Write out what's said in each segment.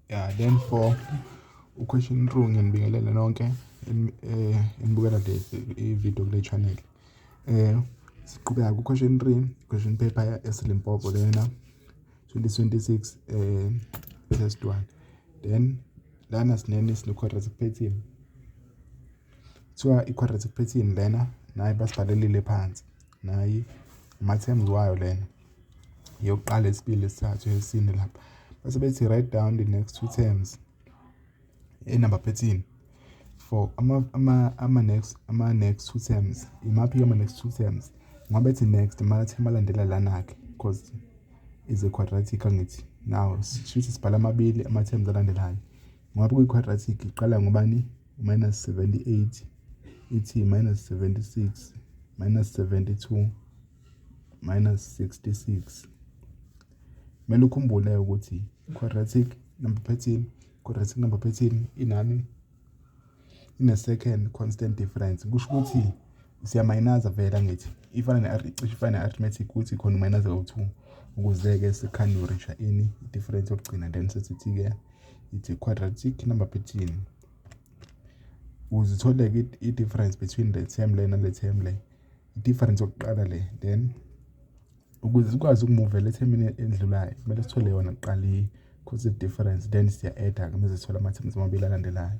Yeah, then for uquestion two ngiyanibingelela nonke um eh, enibukela le ividiyo kule channel um siqhubeka kuquestion three question paper esilimpopo lena 2026 um eh, test one then lana sinene sine-quadratic pattern kuthiwa i-quadratic pattern lena naye basibhalelile phansi nayi ama-terms wayo lena yokuqala esibili esithathu esine lapha bese bethi write down the next two terms enumber 13 for ama ama ama next ama next two terms imaphi ama next two terms ngoba ethi next mara thema landela lana ke because is a quadratic angithi now shuthi sibhala amabili ama terms alandelayo Ngoba kwi-quadratic iqala ngobani? Minus 78 ithi minus 76 minus 72 minus 66. Kumele ukhumbule ukuthi quadratic number pattern, quadratic number pattern inani ine-second constant difference. Kusho ukuthi siyamayinaza vele angithi ifana ne-cishe ifana ne-arithmetic ukuthi khona umayinaza kawu-two ukuze-ke sikhane urisha ini i-difference yokugcina then sesithi-ke ithi quadratic number between uzithole-ke i-difference between le term le nale term le i-difference yokuqala le then ukuze sikwazi ukumuvela ethemini endlulayo kumele sithole yona kuqala i-cause difference then siya-adda-ke uma sesithola ama-terms amabili alandelayo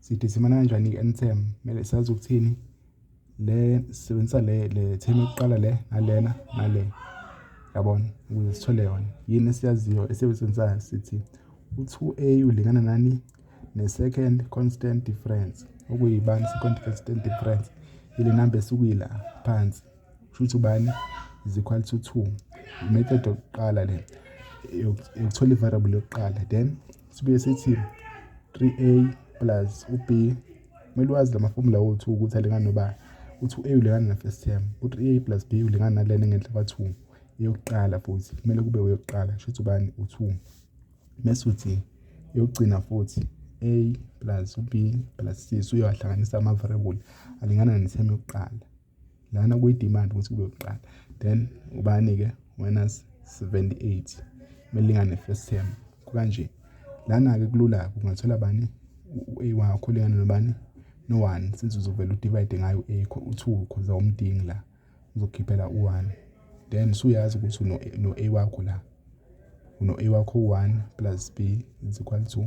sithi simana kanjani ke NTM mele sazi ukuthini le sisebenzisa le le theme yokuqala le nalena nale yabona ukuze sithole yona yini esiyaziyo esiyisebenzisayo sithi u-2a ulingana nani ne-second constant difference okuyibani second constant difference ile number esukuyila phansi Kushuthi ubani is equal to 2 method yokuqala le yokuthola i-variable yokuqala then sibuye sithi 3a plus u-b kumele wazi la mafomula wothu ukuthi alingani nobani uthi u-a ulingana na-first term u-3a plus b ulingana nalena ngenhla kwa-2 eyokuqala futhi kumele kube uyokuqala kusho ukuthi ubani u-2 mese uthi eyokugcina futhi a plus u-b plus c so uyowahlanganisa ama-variable alingana ne-term yokuqala lana kuyi-demand ukuthi kube kuqala then ubani-ke winners 78 melingane first term kukanje lana-ke kulula ungathola bani u-a wakho ulingane nobani no-one since uzovele udivide ngayo u-a u-two khoza umdingi la uzokhiphela u-one then suyazi ukuthi no-a wakho la uno-a wakho u-one plus b is equal to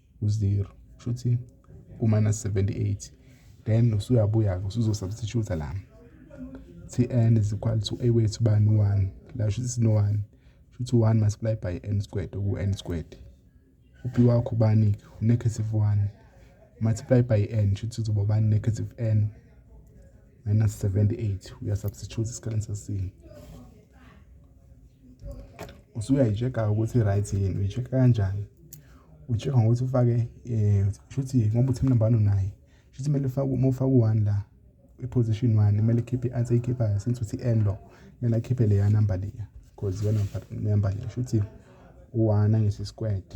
u-0 shuthi u-minus 78 then usuyabuya-ke usuzosubstitute la tn is equal to a wethu bani 1 la shuthi sino-1 shuthi 1 multiply by n squared oku-n squared upi wakho ubani-ke u-negative 1 multiply by n shuthi uzoba ubani negative n minus 78 uyasubstitute isikhaleni sesine usuyayi-check-a ukuthi i-right yini uyi-check-a kanjani uyi-check-a ngokuthi ufake um shuthi ngoba uthi mnumber one unaye shuthi kumele uma ufake u-one la i-position one kumele ikhiphe i-answer eyikhiphayo since uthi n lo kumele akhiphe leya number leya because iyona number leya shuthi u-one angisi squared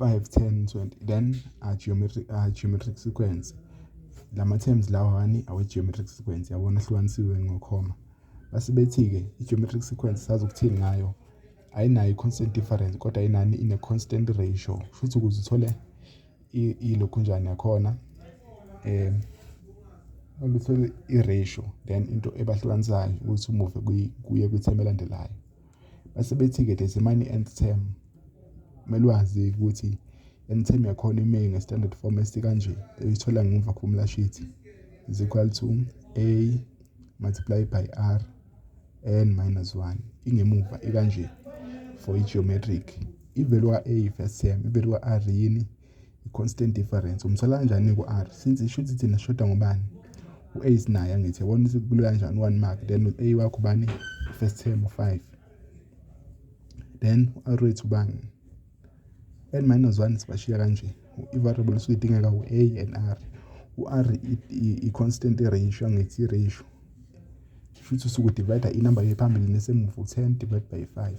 5 10 20 then a geometric a geometric sequence lama terms lawa hani awe geometric sequence yabona ahlukanisiwe ngokhoma base bethi ke i geometric sequence sazokuthini ngayo ayinayo i constant difference kodwa inani ine constant ratio futhi ukuze uthole ilokhu njani yakhona um oluthola i-ratio then into ebahlukanisayo ukuthi umuve kuye kwithemu elandelayo Base bethi-ke there's a money end term. Kumele wazi ukuthi end term yakhona ime nge-standard form esikanje uyithola ngemva formula sheet is equal to a multiply by r n minus 1 ingemuva ikanje for i-geometric ivelu ka-a first term ivelu ka-r yini i-constant difference umsola kanjani ku-r since isho ukuthi thina sishoda ngobani u-ace naye angithi yabona ukuthi kulula kanjani one mark then u-a wakho ubani first term u-five then u-r wethu ubani and minus one sibashiya kanje i-variable esuke idingeka u-a and r u-r i-constant ratio angithi i-ratio shuthi usuke udivayida inumber yephambili nesemuva u-ten divide by five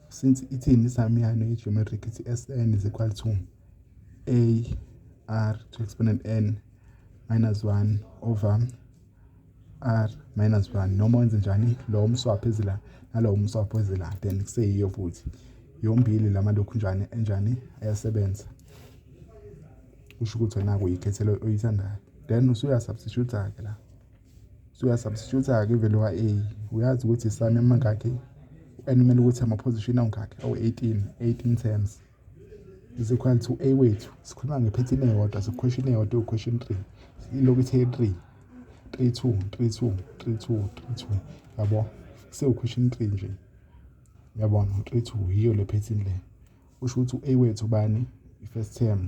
since ithini isamiyane ye-geometric ithi sn is equal to ar to exponent n minus 1 over r minus 1 noma wenze njani lo umswapho ezila nalo umswapho ezila then kuseyiyo futhi yombili lama lokhu njani enjani ayasebenza usho ukuthi wena kuyikhethelo oyithandayo then usuya substitute ke la Suyasubstitute-ke ivele wa-A uyazi ukuthi isani amangakhi and kumele ukuthi amaphozishini awungakhi awu-18 18 terms is equal to a wethu sikhuluma ngephethini eyodwa sikhweshini eyodwa iwukhweshini three ilokhu ithe three three two three two three two three two yabo sewukhweshini three nje yabona three two yiyo le phethini le usho ukuthi u-a wethu bani i-first term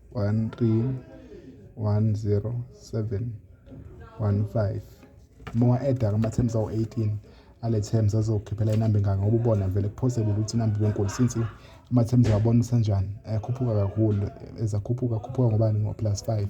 131075 uma wa-eda ama-terms awu-18 ale terms azokukhiphela inamba engaka ngoba ubona vele kuphosebile ukuthi inamba ibenkulu since ama-terms awabona usenjani ayakhuphuka kakhulu ezakhuphuka akhuphuka ngobani ngo-plus five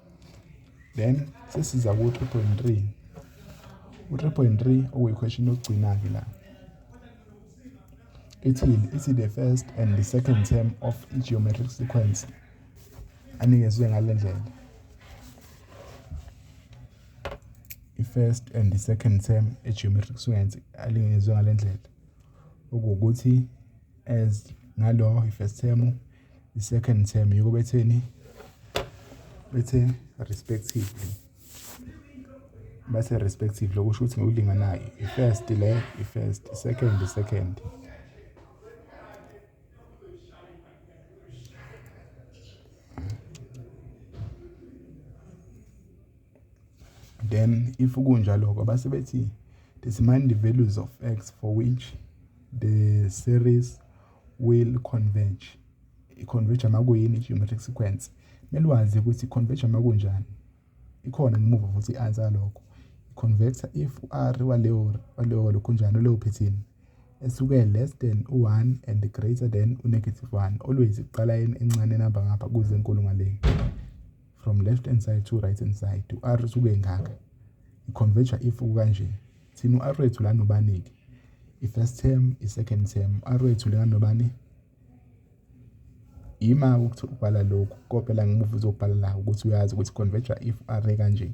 then sesiza ku-three point three u-three point three okuyikhweshini yokugcina-ke la ithini ithi the first and the second term of i-geometric sequence anikezwe ngale ndlela i-first and the second term e-geometric sequence alingezwe ngale ndlela okuwukuthi as ngalo i-first term i-second term yiko betheni bethe respectively bathe respectively okusho ukuthi ngokulinganayo i-first le i-first i-second i-second then if kunjaloko base bethi determine the values of x for which the series will converge. I-converge uma kuyini i-geometric sequence. Kumele wazi ukuthi i-converge uma kunjani. Ikhona ngemuva futhi i-answer yalokho. I-converter if u-r waleyo waleyo lokhu njani leyo phethini esuke less than u-1 and greater than u-negative 1 always iqala encane enamba ngapha kuze enkulu ngale from left hand side to right hand side u-r usuke engaka i-converter if kanje thina u-Arwethu la nobani-ke i-first term i-second term u-Arwethu la nobani ima ukuthi ubhala lokhu kopela ngimuva uzobhala la ukuthi uyazi ukuthi converge if array kanje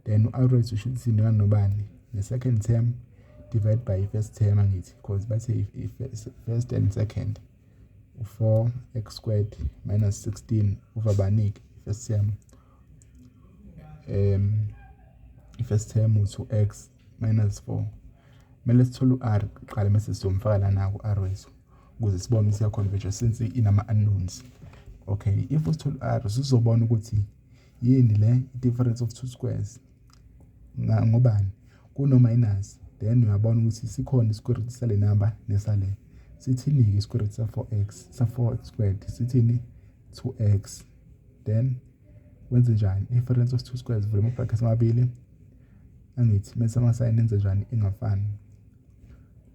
then u-Arwethu usho ukuthi thina nobani ne-second term divide by i-first term angithi because bathe i-first and second u-4 x squared minus 16 over baningi i-first term i-first term u-two x minus four. Kumele sithole u-R kuqala mese sizomfaka lana ku-R wethu ukuze sibone ukuthi iya-converge since inama-unknowns. Okay, if usithole u-R usuzobona ukuthi yini le i-difference of two squares ngobani kuno-minus then uyabona ukuthi sikhona i-square root sale number nesale. Sithini-ke i-square root sa-four x, sa-four x squared sithini? Two x. then wenze njani i-difference of two squares vula ama-brackets amabili angithi mese amasayini enze njani engafani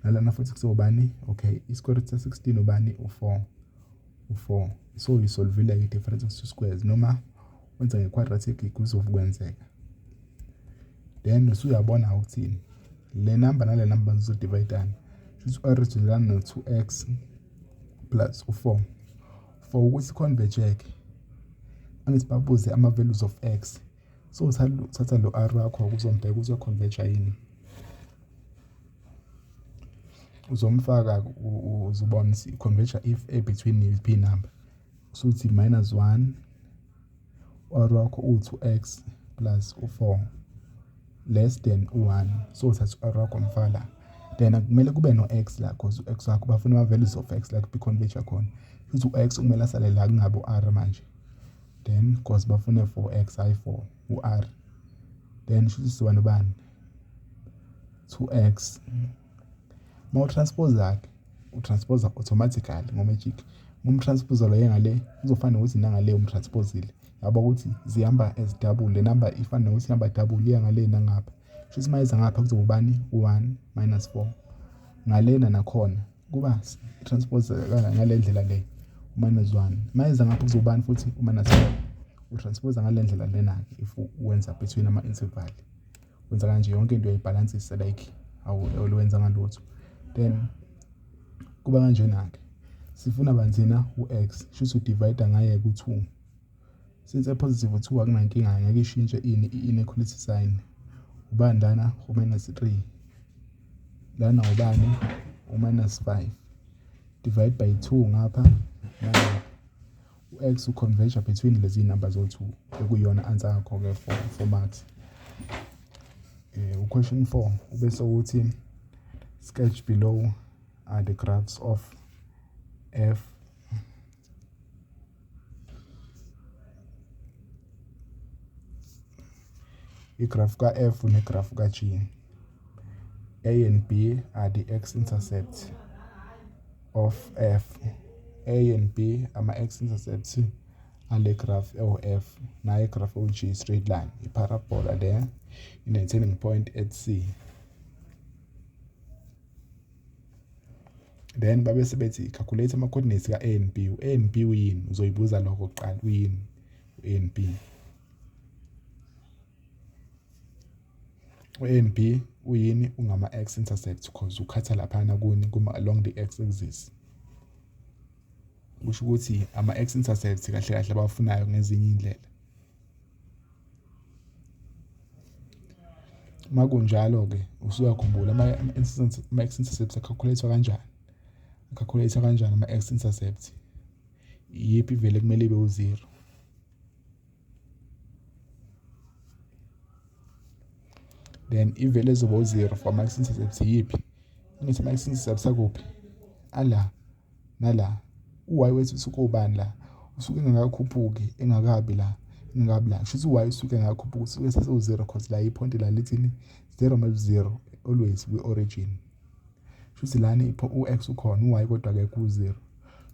nalana futhi kusobani okay i-square root sa-16 ubani u-4 u-4 so uyisolvile-ke i-difference of two squares noma wenza nge-quadratic kuzokwenzeka then usuyabona ukuthini le namba nale namba zizodivayidana shuthi u-r izodilana no-2 x plus u-4 for ukuthi converge-ke angithi babuze ama-values of x so thatha lo r wakho kuzombheka uzoconverge yini uzomfaka uzobona ukuthi converge if a between p number usuthi minus 1 u-R wakho uwu-2x plus u-4 less than u-1 so uthatha u-R wakho mfaka la then kumele kube no-x la cause u-x wakho bafuna ama-values of x la kubikhonvejwa khona futhi u-x kumele asale la kungabi u-R manje then cause bafune 4x hhayi 4 u-R then shuthi sizoba nobani 2x mawutranspoza-ke. utransposa automatically ngomagic uma umtranspose lo yengale kuzofana nokuthi nangale umtransposile yabo ukuthi zihamba as double le number ifana nokuthi ihamba double iya ngale nangapha kusho ukuthi mayeza ngapha kuzoba ubani u-1 minus 4 ngalena nakhona kuba transpose ngale ndlela le u-minus 1 mayeza ngapha kuzoba ubani futhi u-minus 4 utransposa ngale ndlela lena-ke if wenza between ama-interval wenza kanje yonke into uyayibhalansisa like awuwenzanga lutho then kuba kanjena-ke sifuna banzina u-x shuthi udivayida ngaye ku-two since epositive u-two akunankinga ngeke ishintshe ini i-inequality sign ubani lana u-minus three lana ubani u-minus five divide by two ngapha nangapha U-X u-converge between lezi zinamba zowu-two ekuyiyona answer yakho-ke for for marks um u-question four ube sewuthi sketch below are the graphs of f igrafu ka-f negrafu ka-g A and B are the x-intercepts of F. A and B ama-x-intercepts ale graph ewu-F. Naye graph ewu-G, straight line. I-parabola le ine-turning point at C. then babe sebethi calculate ama coordinates ka A and B u A and B uyini uzoyibuza lokho kuqala uyini u A and B U-A_N_B uyini? Ungama-X intercept cause ukhatha laphayana kuni along the X axis. Kusho ukuthi ama-X intercept kahle kahle abawafunayo ngezinye iy'ndlela. Uma kunjalo-ke usuyakhumbula ama-X intercept akhalkhuletha kanjani? Akhalkhuletha kanjani ama-X intercept? Iyiphi ivele kumele ibe uziro? then ivele zoba u-zero for ama-x intercepts yiphi angithi ama-x intercepts akuphi ala nala u-y wethu usuke ubani la usuke engakakhuphuki engakabi la engakabi la shuthi u-y usuke engakakhuphuki usuke sesiwu-zero cause la iphonti la lithini zero map zero always kwi-origin shuthi lana u-x ukhona u-y kodwa akekho u-zero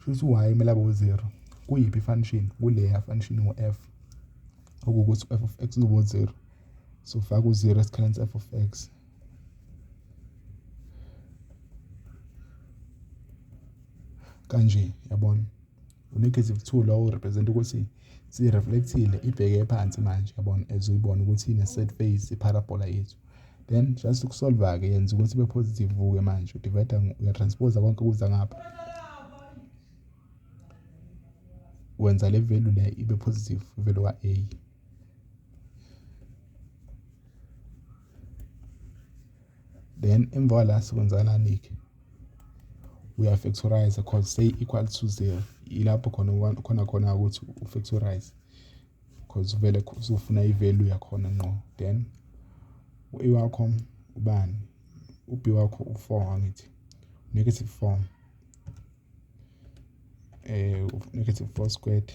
shuthi u-y kumele abe u-zero kuyiphi i-function kuleya function u-f okuwukuthi u-f of x uzoba u-zero so faka u-zero esikhaleni se-f of x kanje yabona u-negative two lowo represent ukuthi si-reflectile ibheke phansi manje yabona as uyibona ukuthi ine-set face i-parabola yethu then just ukusolva-ke yenza ukuthi ibe positive kuke manje udivayida uyatransposa konke kuza ngapha wenza le value le ibe positive ivelu ka-a then emva kwala sikwenzakalani-ke uyafactorize cause say equal to zero ilapho khona khona khona ukuthi ufactorize because vele uzofuna i-value yakhona ngqo then u-e wakho ubani u-b wakho u-four angithi negative four eh negative four squared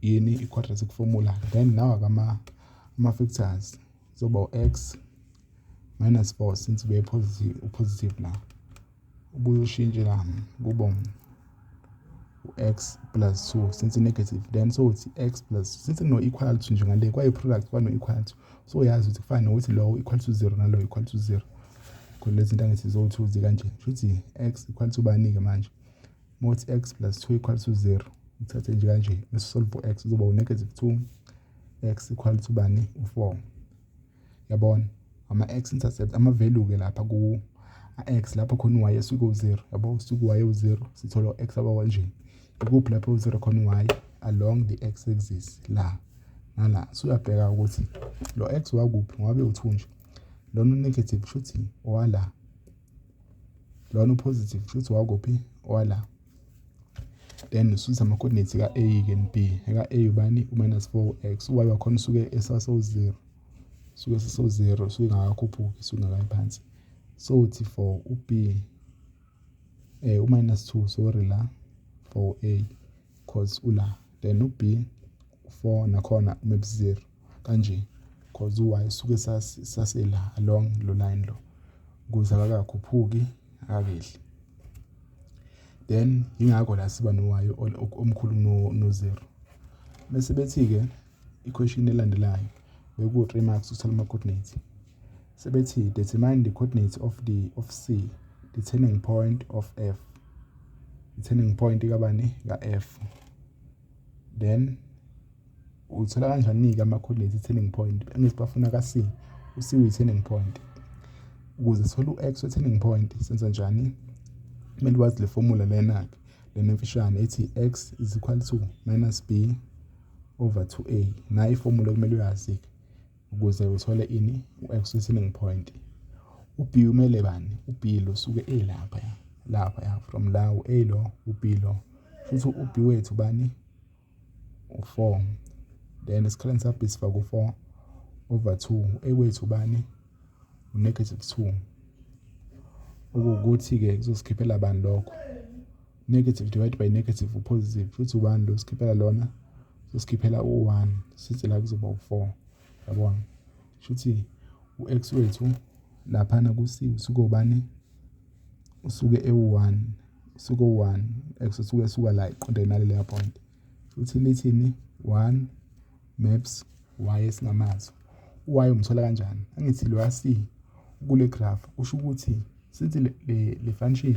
Yini i-quadratic formula then nawa-ke ama-factors kuzoba u-x minus 4 since ube positive la ubuye ushintshe la kubo u-x plus 2 since i-negative then so it's x plus since kuno-equal to njengale kwayi-product kwano-equal to so uyazi ukuthi kufana nokuthi lowo equal to 0 nalowo equal to 0 khona lezi nto angithi ziwu-two zikanje kusho ukuthi x equal to bani-ke manje uma uthi x plus 2 equal to 0 uthathe nje kanje bese solve x uzoba u-negative 2 x equal to bani u-4 yabona ama-x intercept ama-value-ke lapha ku-x lapho khona u-y esuke u-0 yabo usuke u-y u-0 sithola u-x abawa nje ikuphi lapho u-0 khona u-y along the x axis la nala suyabheka ukuthi lo x wakuphi ngabe u-2 nje lona u-negative shuthi owala lona upositive futhi wakuphi wala then ususe ama-coordinates ka-a ke n b eka-a ubani u-minus four x uy wakhona usuke esaso-zero suke seso-zero suke ngakakhuphuki suke ngakayi phansi so uthi for u-b um eh, u-minus two sorry la for a cause ula then u-b for nakhona map zero kanje cause uwaye suke sasela along lo line lo kuze akakakhuphuki akakehli then yingakho la siba nowayo omkhulu no zero bese bethi ke iquestion elandelayo beku 3 marks uthola ama coordinates sebethi determine the coordinates of the of C the turning point of F i turning point kabani ka F then uyithola kanjani-ke ama-coordinates i-turning point engisi bafuna ka-c u-c uyi-turning point ukuze sithole u-x we-turning point senza njani kumele wazi le formula lena-ke lena emfishane ethi x is equal to minus b over 2a nayo ifomula kumele uyazi-ke ukuze uthole ini u-x uyi-selling point u-b umele bani u-b lo suke elapha ya lapha ya from la u-a lo u-b lo futhi u-b wethu bani u-four then esikhaleni sa-b sifake u-four over two u-a wethu bani u-negative two okuwukuthi-ke kuzosikhiphela bani lokho negative divided by negative upositive futhi ubani lo sikhiphela lona sosikhiphela u-1 sithi la kuzoba u-4 yabona shuthi u-x wethu laphana kusi usuke ubani usuke ewu-1 usuke u-1 x usuke esuka la iqonde nale leya point futhi lithini 1 maps y esingamazwe u-y umthola kanjani angithi lo yasi kule graph usho ukuthi since le, le, le function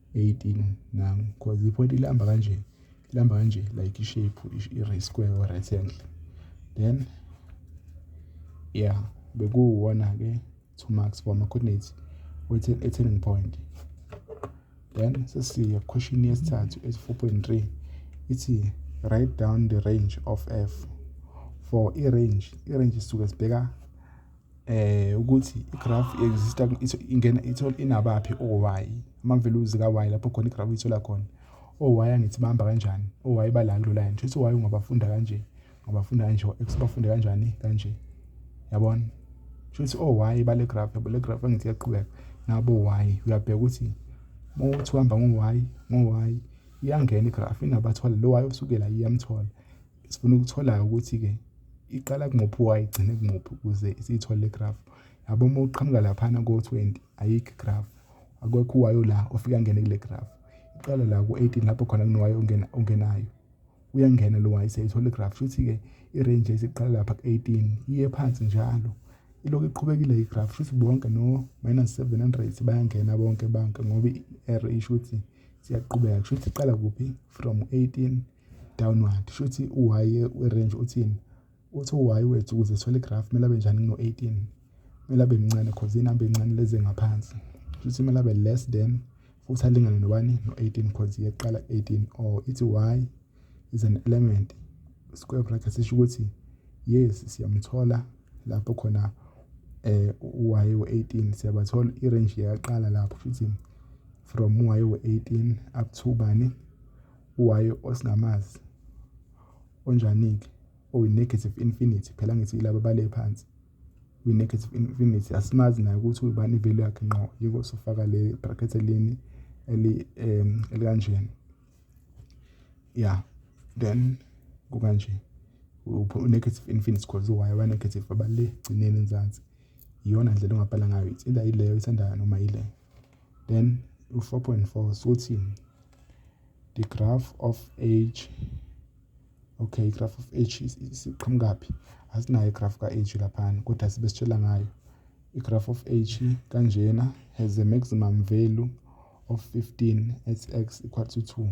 18 nam because ipoint ilihamba kanje ilihamba kanje like ishape i-ray square or rectangle then yeah bekuwuwona-ke two marks for ama-coordinates e-turning point then sesiya question yesithathu esi-four point three ithi write down the range of f for i-range i-range sisuke sibheka eh ukuthi igraph exista ingena ithola inabaphi oy ama values ka y lapho khona igraph ithola khona oy angithi bamba kanjani oy bala kulo line kusho ukuthi y ungabafunda kanje ngabafunda kanje x bafunde kanjani kanje yabona kusho ukuthi oy bale graph yabo le graph angithi yaqhubeka nabo y uyabheka ukuthi mawuthi uhamba ngo y ngo y iyangena igraph inabathwala lo y osukela iyamthola Sifuna ukutholayo ukuthi-ke iqala kumuphi y igcine kumuphi ukuze siyithole le graph. Yabo uma uqhamuka laphana ko-20 ayikho igraph, akwekho uwayo la ofika angene kule graph. Iqala la ku-18 lapho khona kunowayo ongena ongenayo. Uyangena lo wayi seyithola igraph. Shuthi-ke i-range esiqala lapha ku-18 iye phansi njalo. Ilokhu iqhubekile igraph shuthi bonke no minus 700 bayangena bonke bonke ngoba i-error isho ukuthi siyaqhubeka kusho ukuthi iqala kuphi from 18 downward shuthi u-y we-range uthini uthi u-y wethu ukuze sithole igraph kumele abe njani kuno-18 kumele abe mncane cause inamba encane lezi ngaphansi shuthi kumele abe less than futhi alingane nobani no-18 cause yeqala 18 or ithi y is an element square bracket sisho ukuthi yes siyamthola lapho khona eh u-y we-18 siyabathola i-range yaqala lapho futhi from y we-18 up to bani Uwayo osingamazi onjani-ke oyi-negative infinity, phela ngithi ilaba abale phansi kwi-negative infinity asimazi naye ukuthi ubani ivelu yakhe ngqo yiko sifaka le bracket elini eli um elikanjena ya then kukanje u-negative infinity cause uwayo abanegative abale gcineni enzansi iyona ndlela ongabhala ngayo it's either yileyo oyithandayo noma yileyo then u-4.4 suthi the graph of age okay graph of age isiqhamukaphi asinayo igraph ka-age laphana kodwa sibe sitshela ngayo igraph of age kanjena has a maximum value of 15 at x equal to 2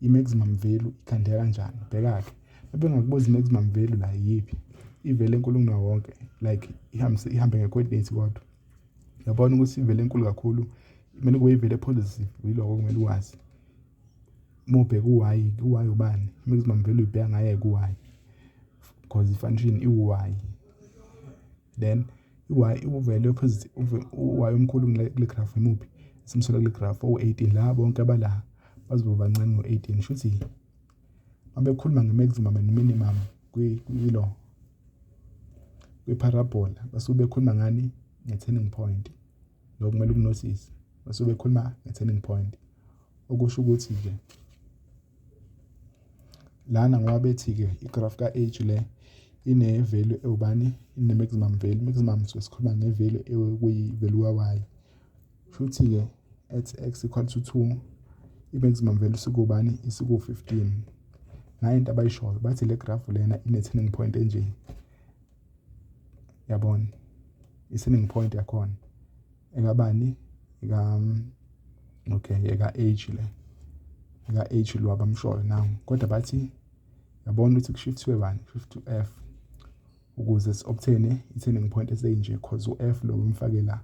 i-maximum value ikhandeka kanjani bheka-ke mabengakubuza i-maximum value la yiphi ivele enkulu kunawo wonke like ihambise ihambe nge-coordinate kodwa yabona ukuthi ivele enkulu kakhulu kumele kube ivele positive yiloko kumele uwazi uma ubheka u-y ku-y ubani i-maximum value ibheka ngaye ku-y because i-function iwu-y then i-y uvele u-y omkhulu kule graph imuphi simsola kule graph owu-18 la bonke abala bazoba bancane ngo-18 shuthi mabekhuluma nge-maximum and minimum kwilo kwi-parabola basuke bekhuluma ngani nge-turning point lokho kumele ukunosise basuke bekhuluma nge-turning point okusho ukuthi-ke Lana ngoba bethi-ke igrafu ka-H le ine-value ewubani, ine-maximum value. I-maximum suke sikhuluma nge-value ekuyi-value ka-Y. Shuthi-ke at X equal to two, i-maximum value isukubani, isuku-fifteen. Nayi into abayishoyo, bathi le grafu lena ine-turning point enje, yabona? I-turning point yakhona. engabani eka okay eka age le eka age lo abamshoyo nawo kodwa bathi yabona ukuthi kushifthiwe bani shift to f ukuze si-obtaine i-turning point eseyinje cause u-f lo umfake la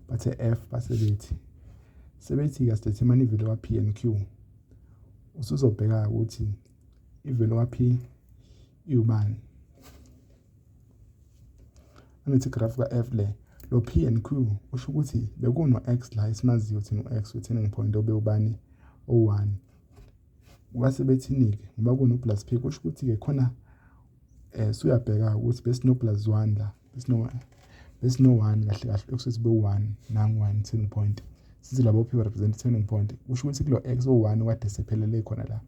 bathe f base bethi sebethi-ke sidetermine ivelo ka-p and q usuzobheka-ke ukuthi ivelo ka-p iwubani Angithi graph ka-F le lo P and Q usho ukuthi bekuno-X la esimaziyo thina u-X we-turning point obewubani o-1 kwase bethini-ke ngoba kuno-plus P kusho ukuthi-ke khona um suyabheka ukuthi besino-plus 1 la besino-1 kahle kahle ekusuthi bewu-1 nangu-1 turning point sithi labo P represent turning point kusho ukuthi kulo X o-1 kade sephelele khona la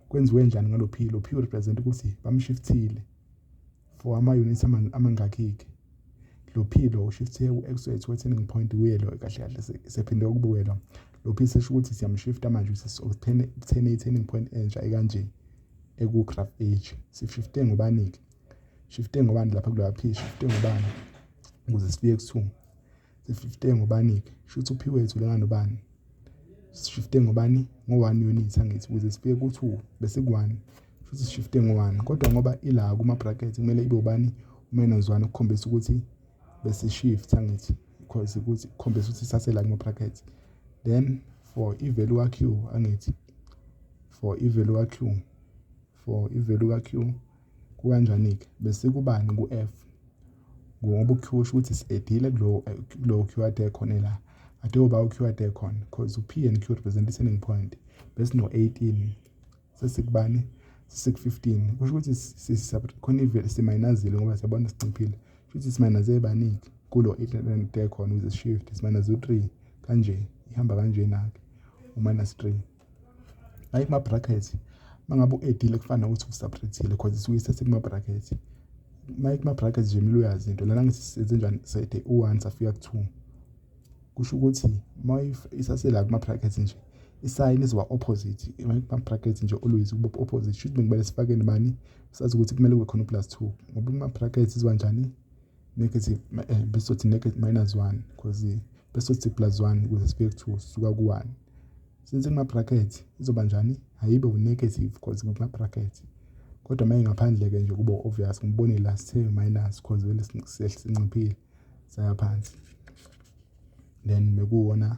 kwenziwe njani ngalo P lo P represent ukuthi bamshiftile for ama-units amangakhi-ke lophilo ushifte ku-exwet we-turning point kuye lo kahle kahle sephinde ukubuke lo lophilo sesho ukuthi siyamshifta manje sekuthene i-turning point entsha ekanje eku-graph age sishifte ngobani-ke shifte ngobani lapha kuloya phi shifte ngobani ukuze sifike ku-two Sififte ngobani-ke? Shuthi uphiwe ethulela nobani? Sififte ngobani? Ngo-one unit angithi ukuze sifike ku-two bese ku-one. Shuthi sififte ngo-one kodwa ngoba ila kuma-bracket kumele ibe ubani? Umenozwana ukukhombisa ukuthi besi-shift angithi because ukuthi kukhombisa ukuthi sasela kuma-bracket. Then for i-value ka-Q angithi for i-value ka-Q. for i-value ka-Q kukanjani-ke? Bese kubani ku-F? Ngoba u-Q usho ukuthi si-edile kulowo Q ade khona la. Ade uba u-Q ade khona because u-P and Q represent i-turning point. Bese no-18 sesikubani? Sesiku-15 kusho ukuthi khona ivele simayinazile ngoba siyabona sinciphile. Kusho ukuthi simayinaze ebaningi kulo 8 ade khona ukuze si-shift simayinaze u-3 kanje ihamba kanjena-ke u-minus 3. hayi kuma-bracket uma ngabe u-edile kufana nokuthi usabrethile cause isuke isesekuma-bracket uma kuma-bracket nje kumele uyazi into lana ngisisenze njani sede u-one safika ku-two kusho ukuthi uma isasela kuma-bracket nje isayini izoba opposite kuma-bracket nje always kuba opposite shuthi bekumele sifake nibani sazi ukuthi kumele kube khona u-plus two ngoba kuma-bracket izoba njani negative eh, besothi negative minus 1 because besothi plus 1 ukuze sibheke kuthiwa usuka ku-1 since kuma-bracket izoba njani ayibe u-negative because kuma-bracket kodwa uma ingaphandle-ke nje kuba obvious ngibone la sithe minus because vele sinciphile saya phansi then mekuwona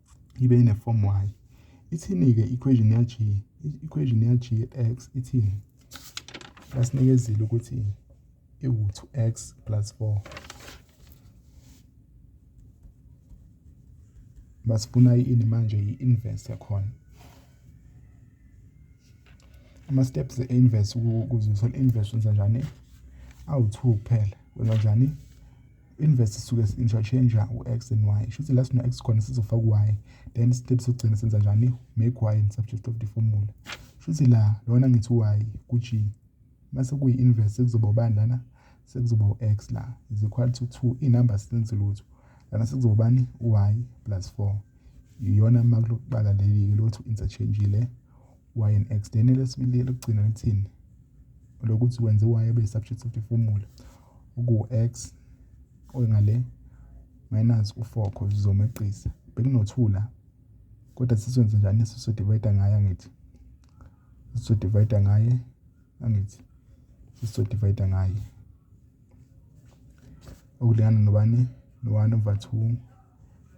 ibe inefomu y. Ithini-ke i-equation ya-g? I-equation ya-g x ithini? Basinikezile ukuthi iwu-two x plus four. Basifuna ini manje i-inverse yakhona. Ama-steps e-inverse ukuze uthole i-inverse wenza njani? Awu-two kuphela. Wenza njani? Inverse isuke interchange u-x and y shuthi la sino-x khona sizofaka u-y then step sokugcina senza njani make y in subject of the formula shuthi la lona ngithi u-y ku-g mase kuyi-inverse sekuzoba ubani lana sekuzoba u-x la is equal to two iy'number sizenzi lutho lana sekuzoba ubani u-y plus four iyona makulokuqala leli-ke lothu interchange le YNX then elesibili elokugcina lithini lokuthi wenze y abe subject of the formula okuwu-x oyingale minus u-4 cause uzomeqisa bekunothula kodwa sisenze njani sisodivayida ngaye angithi sisodivayida ngaye angithi sisodivayida ngaye okulingana nobani no-1 over 2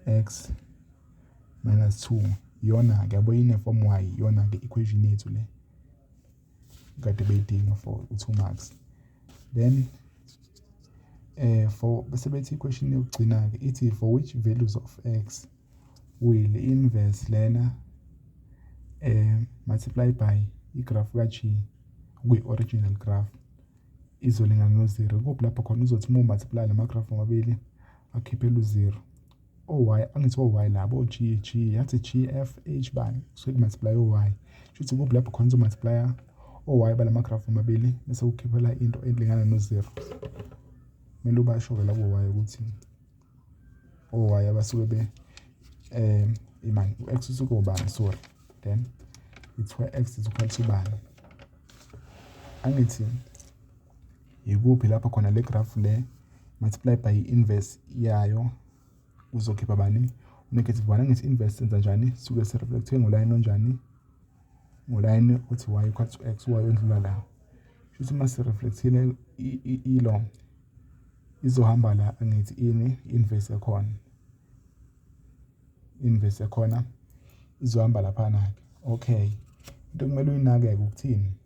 x Minus two, iyona-ke yabo ine-form y, iyona-ke equation yethu le. Kade beyidinga for u-two marks. Then eh for bese bethi i-question yokugcina-ke ithi for which values of x will inverse lena eh multiply by igraph ka-g kwi-original graph izolingana no-zero. Kuphi lapho khona uzothi uma umathipula la magraph omabili akhiphele u-zero. o-y angithi o-y labo o-g g yathi g f h bani kusuke kumultiply o-y shuthi kuphi lapho khona uzomultiplya o-y balamagraph omabili bese ukhiphela into elingana no-zero kumele ubasho-ke labo y ukuthi o-y abasuke be um imani u-x usuke ubani sorry then it's where x is equal to bani angithi Yikuphi lapho khona le graph le multiply by inverse yayo kuzokhipha bani negative 1 angithi inverse senza njani suke si reflect ngolayini onjani ngolayini uthi y equal to x y ondlula la shuthi uma si reflectile ilo izohamba la angithi ini inverse yakhona inverse yakhona izohamba lapha na okay into kumele uyinake ukuthini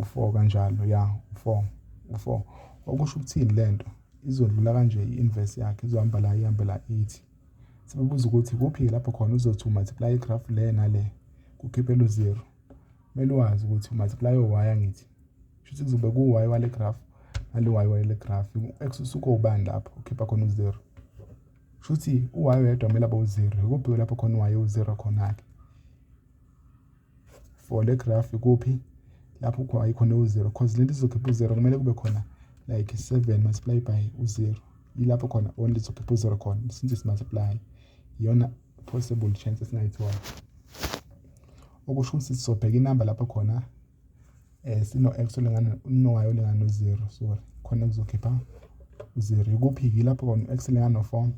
U-four kanjalo ya u-four u-four okusho ukuthini le nto izodlula kanje i-inverse yakhe izohamba la ihambe la ithi sibubuza ukuthi kuphi lapho khona uzothi u-multiply igrafu le nale kukhiphe lu-zero kumele wazi ukuthi u-multiply o-y angithi shuthi kuzobe ku-y wale grafu nale y wale grafu u-x usuke ubani lapho ukhipha khona u-zero shuthi u-y wedwa kumele abe u-zero ikuphi lapho khona u-y u-zero khona-ke. for le graph ikuphi lapho khona ayikhona u-zero cause lento izokhipha u-zero kumele kube khona like 7 multiply by u-zero yilapho khona only izokhipha u-zero khona since simultiply iyona possible chance esingayithola okusho ukuthi sizobheka inamba lapho khona um sino-x olingana no-y olingana no-zero sorry khona kuzokhipha u-zero ikuphi yilapho khona u-x olingana no-four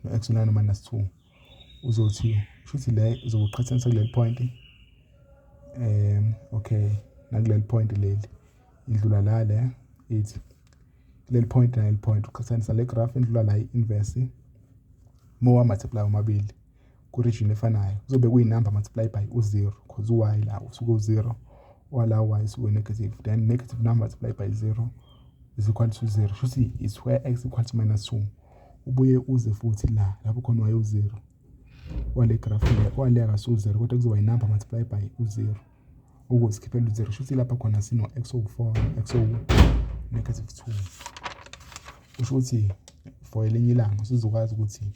no-x olingana no-minus two uzothi shuthi le uzokuqhathanisa kuleli point um okay nakuleli point leli idlula la le ithi kuleli point naleli point uqhathanisa le graph indlula la i-inverse mowa multiply omabili ku-region efanayo kuzobe kuyinumber multiply by u-zero because u-y la usuke u-zero wala y usuke negative then negative number multiply by zero is equal to zero shuthi is where x equal to minus two ubuye uze futhi la lapho khona wayewu-zero wale grafu le kwale akasuwu-zero kodwa kuzoba yinumber multiply by u-zero ukusikhiphela u-zero shuthi lapha khona sino-x owu-four x owu-negative two kusho ukuthi for elinye ilanga usuzokwazi ukuthi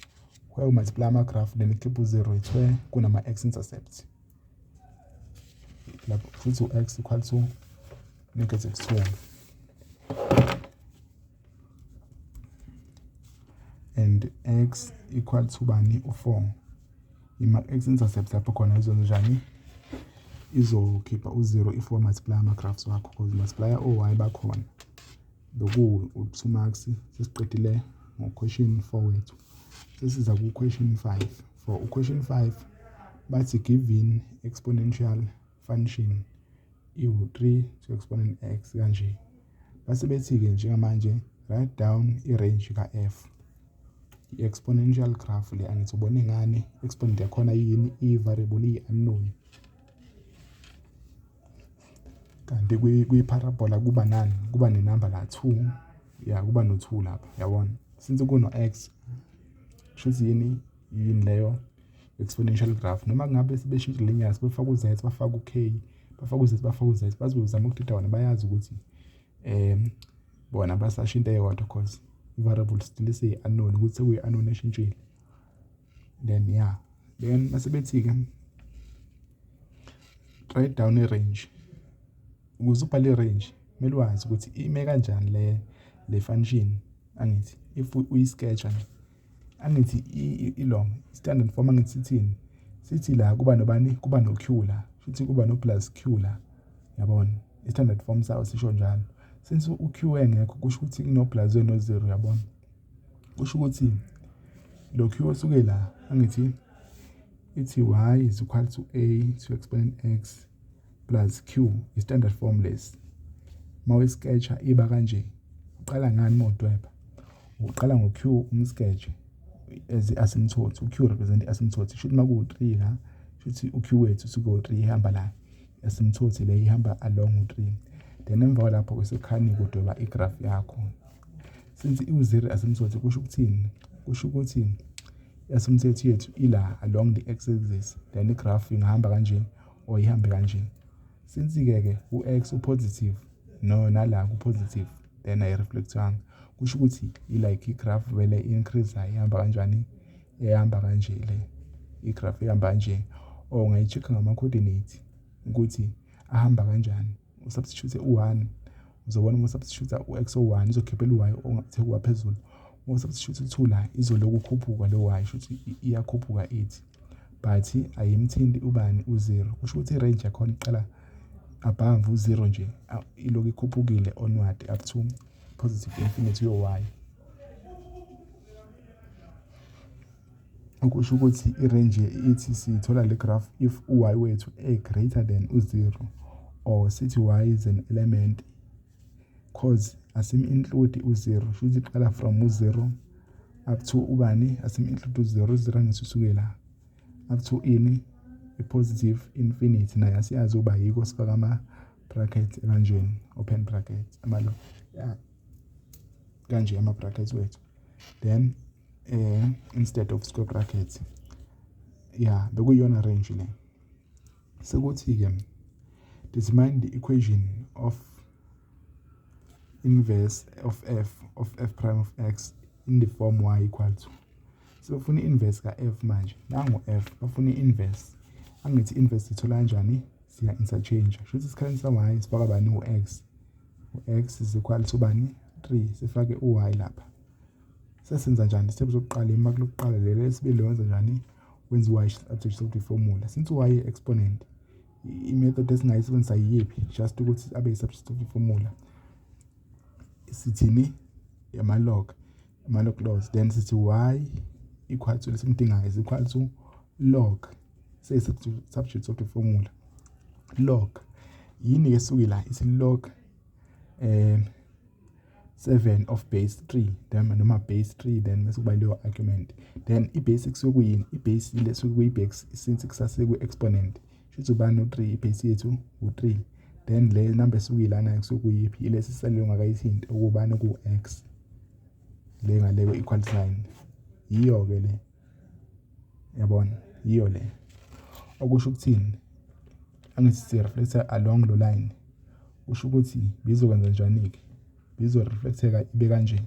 where u multiply amagrafu then ikhiphe u-zero it's where kunama-x intercept lapho futhi u-x equal to negative two and x equal to bani u-four ima-x intercept lapho khona izonjani izokhipha u-zero if wamathiplya ama-graphs wakho because multiplier o-y bakhona bekuwu u-two marks sesiqedile ngo-question four wethu sesiza ku-question five for u-question five bathi given exponential function iwu-3 to exponent x kanje base bethi-ke njengamanje write down i-range ka-f i-exponential graph le angithi ubone ngani exponent yakhona yini i-variable iyi-unknown kanti kwi-parabola kuba nani kuba nenamba la 2 ya kuba no-2 lapha yabona since kuno-x kusho ukuthi yini yini leyo exponential graph noma ngabe sebeshintsha linear sebefaka u-z bafaka u-k bafaka u-z bafaka u-z bazozama ukudida wona bayazi ukuthi um bona basashintsha eyodwa cause i-variable still isiyi-unknown ukuthi sekuyi-unknown eshintshile then ya yeah. then mase bethi-ke write down i-range ukuze ubhale i-range kumele wazi ukuthi ime kanjani le le function angithi if uyi-sketch nje angithi ilong standard form angithi sithini sithi la kuba nobani kuba no q la futhi kuba no plus q la yabona standard form sawo sisho njalo since u q engekho kusho ukuthi kuno plus no zero yabona kusho ukuthi lo q osuke la angithi ithi y is equal to a to explain x plus q i-standard form lesi uma uyisketsha iba kanje uqala ngani uma udweba uqala ngo-q umsketshe as i-asymptote u-q represent i-asymptote sho ukuthi uma kuwu-3 la sho ukuthi u-q wethu siko-3 ihamba la i-asymptote le ihamba along u-3 then emva kwalapho kwesekhani kudweba igraph yakho since iwu-zero asymptote kusho ukuthini kusho ukuthi i-asymptote yethu ila along the x axis then igraph ingahamba kanje or ihambe kanjena since-ke ke u-x upositive no nala kupositive then ayireflectwanga kusho ukuthi ilike igraph vele increase ihamba kanjani ehamba kanje le igraph ihamba kanje or ngayi-check ngama-coordinate ukuthi ahamba kanjani usubstitute u-1 uzobona uma usubstitute u-x o-1 izokhiphela u-y ongathe kuwa phezulu uma usubstitute u-2 la izoloku khuphuka lo y kusho ukuthi iyakhuphuka ithi but ayimthinti ubani u-0 kusho ukuthi i-range yakhona iqala above u-0 nje iloku ikhuphukile onward up to positive infinity yo-y Okusho ukuthi irenji ithi siyithola le graph if u-y wethu e-greater than u-0 or sithi y is an element cause asim-include u-0 shuthi iqala from u-0 up to ubani asim-include u-0 u-0 angisisukela up to ini i-positive infinity naye asiyazi uba yiko sifaka ama-bracket ebanjweni open bracket amalo yeah. kanje ama-brackets wethu then eh, instead of square brackets ya bekuyiyona range le sekuthi-ke determine the equation of inverse of f of f prime of x in the form y equal to sebefuna i-inverse ka-f manje nangu-f bafuna i-inverse angithi i-inverse sithola kanjani siya-interchange shuthi isikhathi sa-y sifaka bani u-x u-X is equal to bani 3 sifake u-y lapha sesenza njani step sokuqala ima kulokuqala lelo lesibili wenza njani wenza u-y subject sokuthi formula since u-y exponent imethod esingayisebenzisa yiyiphi just ukuthi abe yi-subject sokuthi formula sithini yamalog amalog laws then sithi y equal to lesimdingayo is equal to Log say substitute software formula log yini ke suki la isi log um 7 of base 3 then noma base 3 then bese kuba leyo argument then ibase kusuke kuyini ibase ile suke kuyibase since kusase ku exponent shuthi ubani u3 ibase yethu u3 then le number esuke ilana kusuke kuyiphi ile sisalwe ngakayithinta ukubani ku x le ngale ku equal sign yiyo ke le yabona yiyo le okusho ukuthini angithi sireflecta along lo line kusho ukuthi bizokwenza njani-ke bizoreflecteka ibe kanje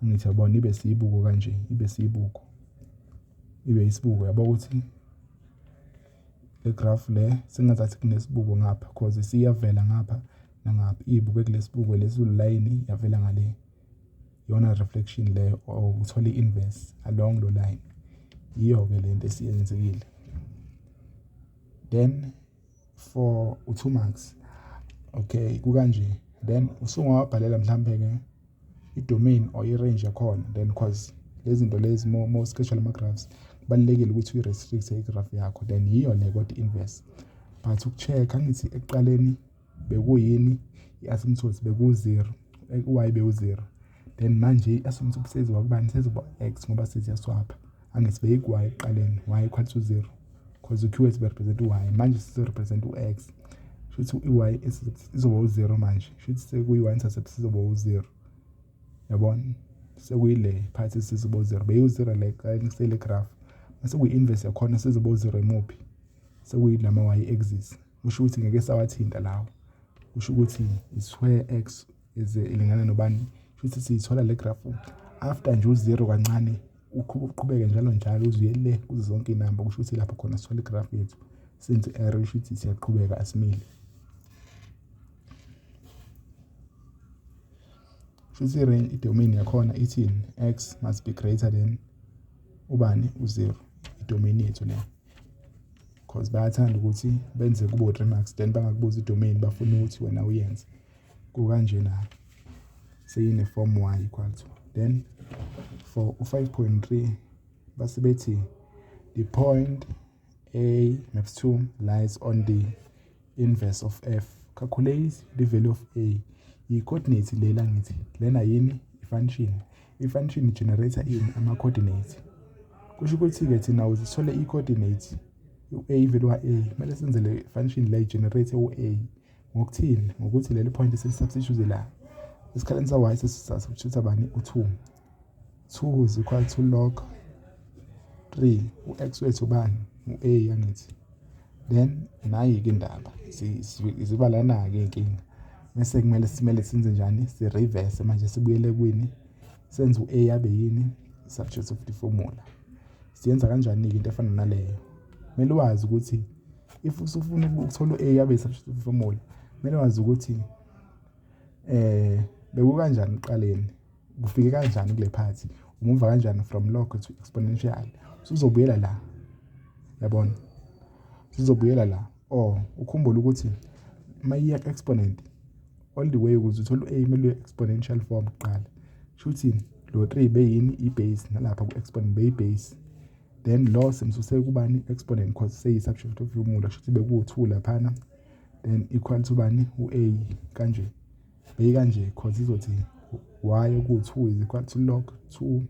angithi yabona ibe siyibuko kanje ibe siyibuko ibe isibuko yabo ukuthi le graph le sengazathi kunesibuko ngapha cause siyavela ngapha nangapha iyibuke kulesibuko lesiwulayini yavela ngale iyona reflection leyo or uthole i-inverse along lo line yiyo-ke le nto esiyenzekile then for u-two marks okay kukanje then usungawabhalela mhlawumbe-ke i-domain or i-range yakhona then cause lezi zinto lezi mo-schedule ama-graphs kubalulekile ukuthi uyi-restrict-e i-graph yakho then yiyo le kodwa i-inverse but uku-check-a angithi ekuqaleni bekuyini i-assumption ukuthi beku-zero, why bewu-zero then manje i-assumption ukuthi seziwa kubani seziwa u-X ngoba seziyaswapha angithi beyiku-Y ekuqaleni, Y equal to zero cause u-Q is represent u-Y manje sizo-represent u-X shuthi i-Y izoba u-zero manje shuthi sekuyi-Y intercept sizoba u-zero yabona sekuyile phathi sizoba u-zero beyiwu-zero le ekuqaleni kusele graph masekuyi-inverse yakhona sizoba u-zero emuphi sekuyilama-y axis. kusho ukuthi ngeke sawathinta lawo kusho ukuthi isquare x is ilingana nobani futhi siyithola le graph after nje u0 kancane uqhubeke njalo njalo uzuye le kuzo zonke inamba kusho ukuthi lapho khona sithola igraph yethu senze error kusho ukuthi siyaqhubeka asimile shuthi i-range i-domain yakhona ithini x must be greater than ubani u-0 i-domain yethu leyo Cause bayathanda ukuthi benze kube u-Remax then bangakubuzi i-domain bafuna ukuthi wena uyenze. Kukanjena-ke seyine-form y equal to then for u-5.3 base bethi the point a maps 2 lies on the inverse of f calculate the value of a i-coordinate lela ngithi lena yini i-function i-function generator ini ama-coordinate kusho ukuthi-ke thina uze sithole i-coordinate u-a ivele wa-a kumele senzele i-function la i-generate u-a ngokuthini ngokuthi leli point selisubstitute la esikhaleni sa-y sesisubstitute bani u-two 2 is equal to log 3 u-x wethu ubani u-a yangithi then nayi-ke indaba ziba lana-ke inkinga bese kumele simele senze njani si-reverse manje sibuyele kwini senze u-a yabe yini subject of the formula siyenza kanjani-ke into efana naleyo kumele wazi ukuthi if usufuna ukuthola u-a yabe i-subject of the formula kumele wazi ukuthi um eh, bekukanjani ekuqaleni kufike kanjani kule phathi umuva kanjani from log to exponential sizobuyela la yabona sizobuyela la or ukhumbule ukuthi uma iya exponent all the way ukuze uthole u-a kumele uye exponential form kuqala kusho ukuthi lo 3 beyini i-base nalapha ku-exponent beyi-base then lo simsuse kubani exponent cause seyi-subject of formula kusho ukuthi bekuwu-2 laphana then equal to bani u-a kanje bheka nje cause izothi y ukuthi u is equal to log 2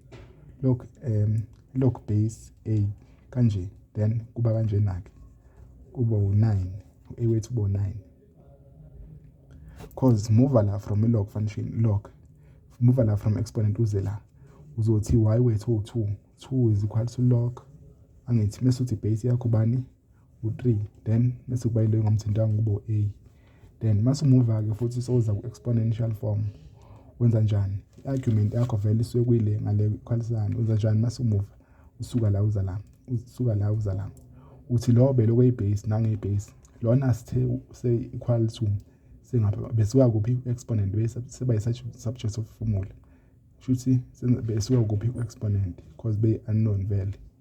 log um log base a kanje then kuba kanjena-ke kuba u-9 u-a wethu uba u-9 cause muva la from i-log function log muva la from exponent uze la uzothi y wethu u-2 2 is equal to log angithi mese uthi base yakho bani u-3 then bese kuba yile ngamthintanga kubo a then masumuva-ke futhi soza ku-exponential form wenza njani i-argument yakho vele isuke kuyile ngale ikhwalisane wenza njani masumuva usuka la uza la usuka la uza la uthi lo belokhu eyibase nangeyibase lona sithe se-equal to singapha besuka kuphi i-exponent seba yi-subject of formula shuthi besuka kuphi i-exponent because be-unknown vele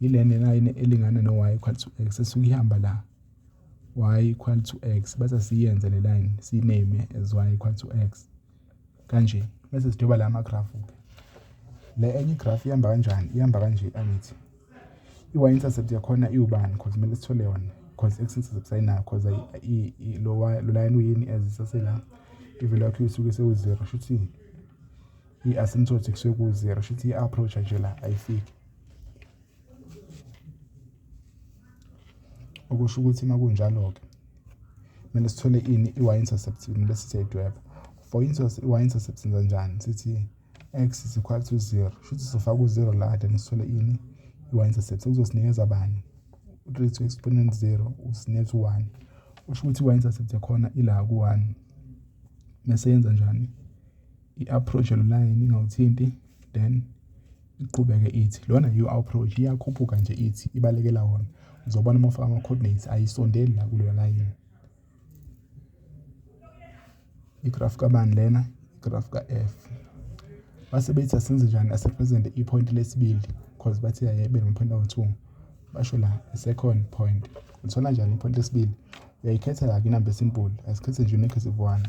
yile nena yini elingana no y equal to x esuke ihamba la y equal to x bese siyenze le line siname as y equal to x kanje bese sidweba la magrafu ke le enye igrafu ihamba kanjani ihamba kanje angithi i-y intercept yakhona iwubani because kumele sithole yona because x intercept sayinayo because lo line uyini as isasela i-value yakho isuke sewu-zero shuthi i-asymptotic kusuke ku-zero shuthi i-approach nje la ayifiki okusho ukuthi uma kunjalo-ke kumele sithole ini i-y-intercept kumele siseyidweba for instance i-y-intercept senza njani sithi x is equal to zero shuthi sizofaka u-zero la then sithole ini i-y-intercept sekuzosinikeza bani u-three to exponent zero usinikeza u-one usho ukuthi i-y-intercept yakhona ila ku-one mese yenza njani i-approach line ingawuthinti then iqhubeke ithi lona yiyo approach iyakhuphuka nje ithi ibalekela wona uzobona uma ufaka ama-coordinates ayisondeli la kuleyo line igraph kabani lena igraph ka-f base bethi asenze njani asepresente iphoyinti lesibili because bathi ayebe nomaphoyinti awu-two basho la second point uthola njani iphoyinti lesibili uyayikhetha la kwinamba esimbulu asikhethe nje unekhethe one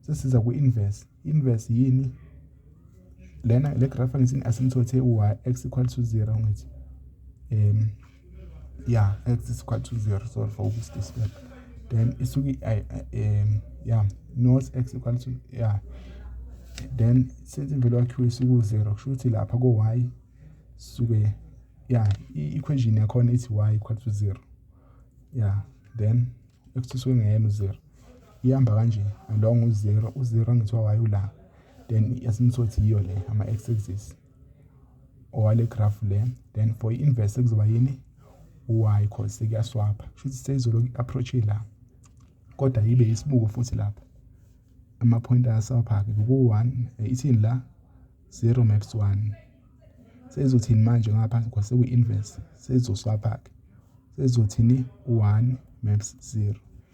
sesiza ku-inverse inverse yini lena le graph angithi asimthothe y x equal to 0 ngithi um ya x is equal to 0 sorry for this display then isuke um ya not x equal to ya then since imvelo yakhiwe isuke u-0 kusho ukuthi lapha ko-y suke ya i-equation yakhona ithi y equal to 0 ya then x isuke ngeyena u-0 ihamba kanje along uzero uzero ngithiwa waye ula then yasimthothi yiyo le ama-x axis owale graph le then for i-inverse kuzoba yini u-y cause kuyaswapha kushuthi seyizoloku i-approach la kodwa yibe isibuko futhi lapha ama-point ayaswapha-ke kuku-one eh, ithini la zero maps one sezothini manje ngapha cause sekuyi-inverse sezoswapha-ke sezothini u-one maps zero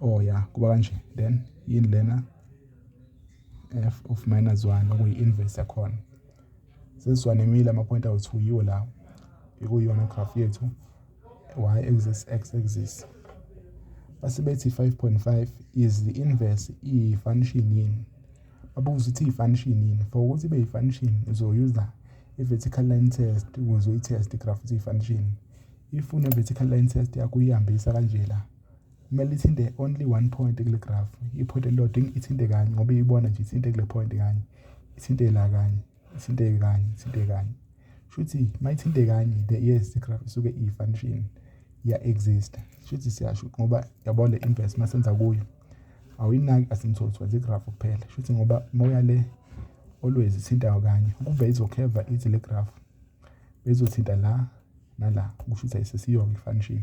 oh ya kuba kanje then yini lena f of minus 1 okuyi-inverse yakhona sesiwanemile ama-point awethu yiwo lawo ikuyona graph yethu y axis x axis base bethi 5.5 is the inverse iyifunction yini babuza ukuthi iyifunction yini for ukuthi ibe yifunction uzoyuza i-vertical line test ukuze uyitheste igraph ukuthi iyifunction if une-vertical line test yakho uyihambisa kanje la kumele ithinte only one point kule graph i-point elilodwa ithinte kanye ngoba iyibona nje ithinte kule point kanye ithinte la kanye ithinte kanye ithinte kanye shuthi uma ithinte kanye the yes the graph isuke iyi-function iya-exista shuthi siyasho ngoba yabo le inverse uma senza kuyo awuyinaki asimthotho wenza igraph kuphela shuthi ngoba uma uya le always ithintayo kanye ukube izokheva ithi le graph bezothinta la nala kusho ukuthi ayisesiyoke i-function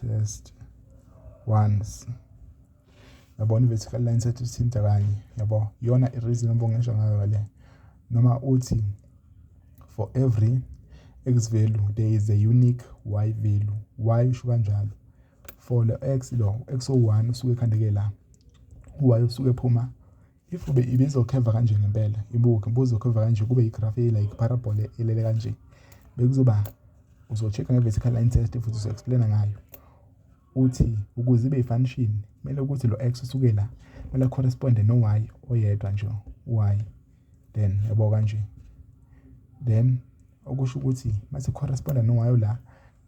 test once yabona i-vertical line set ithinta kanye yabo iyona i-reason obongesha ngayo le noma uthi for every x value there is a unique y value y usho kanjalo for lo x lo x o1 usuke ekhandeke la uy usuke ephuma if ube ibizokheva kanje ngempela ibuke buzokheva kanje kube igraph e like parabole elele kanje bekuzoba uzocheck-a nge-vertical line test futhi uzo-explaina ngayo uthi ukuze ibe ifunction kumele ukuthi lo x usuke la kumele corresponde no y oyedwa nje y then yabo kanje then okusho ukuthi mase corresponda no y la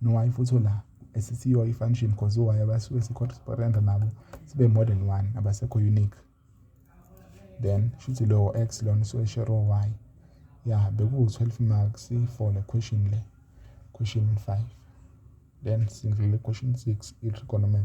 no y futhi la esisiyo ifunction because o y abasuke si corresponda nabo sibe more than one abasekho unique then shuthi lowo x lona usuke share y ya bekuwu-12 marks for le question le question 5 then sindlule question 6 i-trigonometry